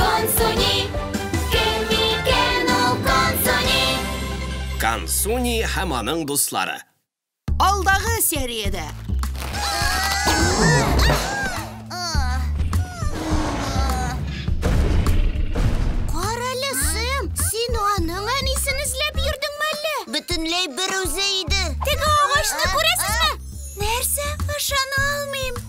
Консуни, кем микән ул Консуни? Консуни һәм аның дуслары. Алдагы сериядә. Карале, Сэм, син аның әнисен эзләп йөрдең мәллә? Бөтенләй бер үзе иде. Теге агачны күрәсезме? Нәрсә? Ышана алмыйм.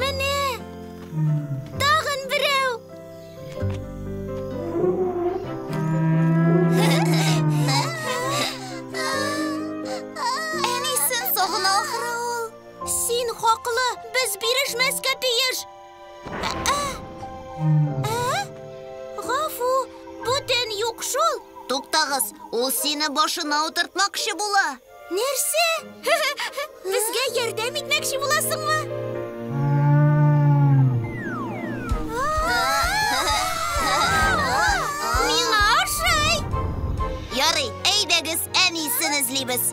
Менә! Тагын берәү! Әнисен сагына ахры ул. Син хаклы, без бирешмәскә тиеш. Гафу, бүтән юк шул. Туктагыз, ул сине башына утыртмакчы була. Нәрсә? Безгә ярдәм итмәкче буласыңмы? Миңа ошый! Ярый, әйдәгез, әнисен эзлибез.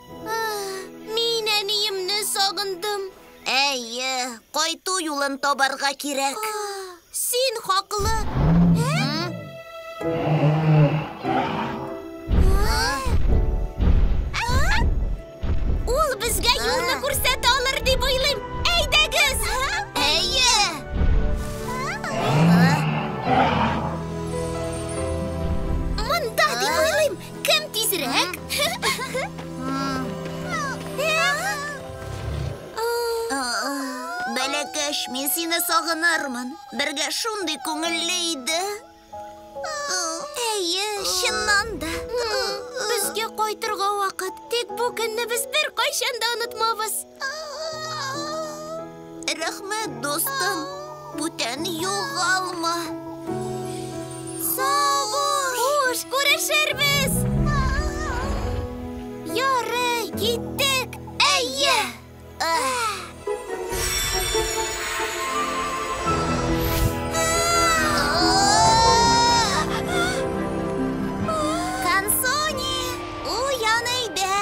Мин әниемне сагындым. Әйе, кайту юлын табарга кирәк. Син хаклы. Ул безгә юлны күрсәтә алыр дип уйлыйм. Әйдәгез! Әйе! Монда дип уйлыйм. Кем тизрәк? Бәләкәш, мин сине сагынырмын. Бергә шундый күңелле иде. Әйе, чыннан да. Безгә кайтырга вакыт. Тик бу көнне без беркайчан да онытмабыз. Рәхмәт, дустым. Бүтән югалма. Сабыш! Хуш, күрешербез! Ярый, киттек. Әйе! Кансуни, уян өйдә!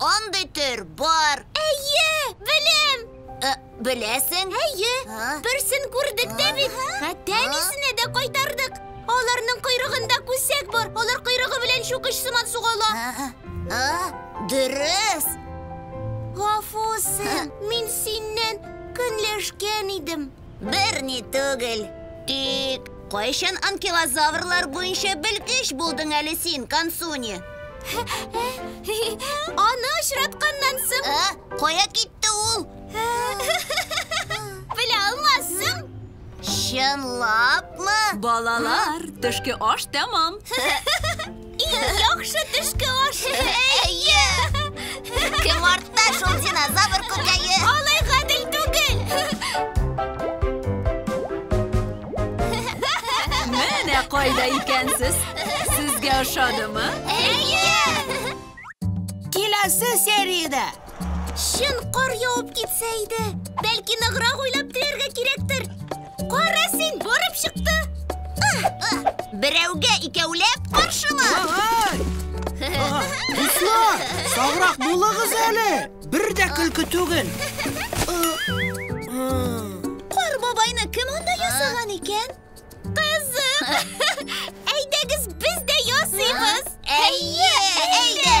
Андый төр бар. Әйе, белем. Ә, беләсең? Әйе, берсен күрдек дә бит. Хәтта әнисенә дә кайтардык. Аларның койрыгында күсәк бар. Алар койрыгы белән чукыч сыман сугала. Дөрес. Гафу, Сэм, мин синнән көнләшкән идем. Бер ни түгел. Тик кайчан анкилозаврлар буенча белгеч булдың әле син, Консуни? Аны очратканнан соң... Ә? Кая китте ул? Белә алмассың. Чынлапмы? Балалар, төшке аш тәмам. Иң яхшы төшке аш. Әйе. Кем артта шул динозавр күкәе? Алай гадел түгел. Менә кайда икәнсез. Сезгә ошадымы? Әйе. Киләсе сериядә Чын кар явып китсә иде. Бәлки ныграк уйлап теләргә кирәктер. Кара син, барып чыкты. Берәүгә икәүләп каршыма. Дуслар, саграк булыгыз әле. Бер дә көлке түгел. Кар бабайны кем анда ясаган икән? Кызык. Әйдәгез, без дә ясыйбыз. Әйе, әйдә.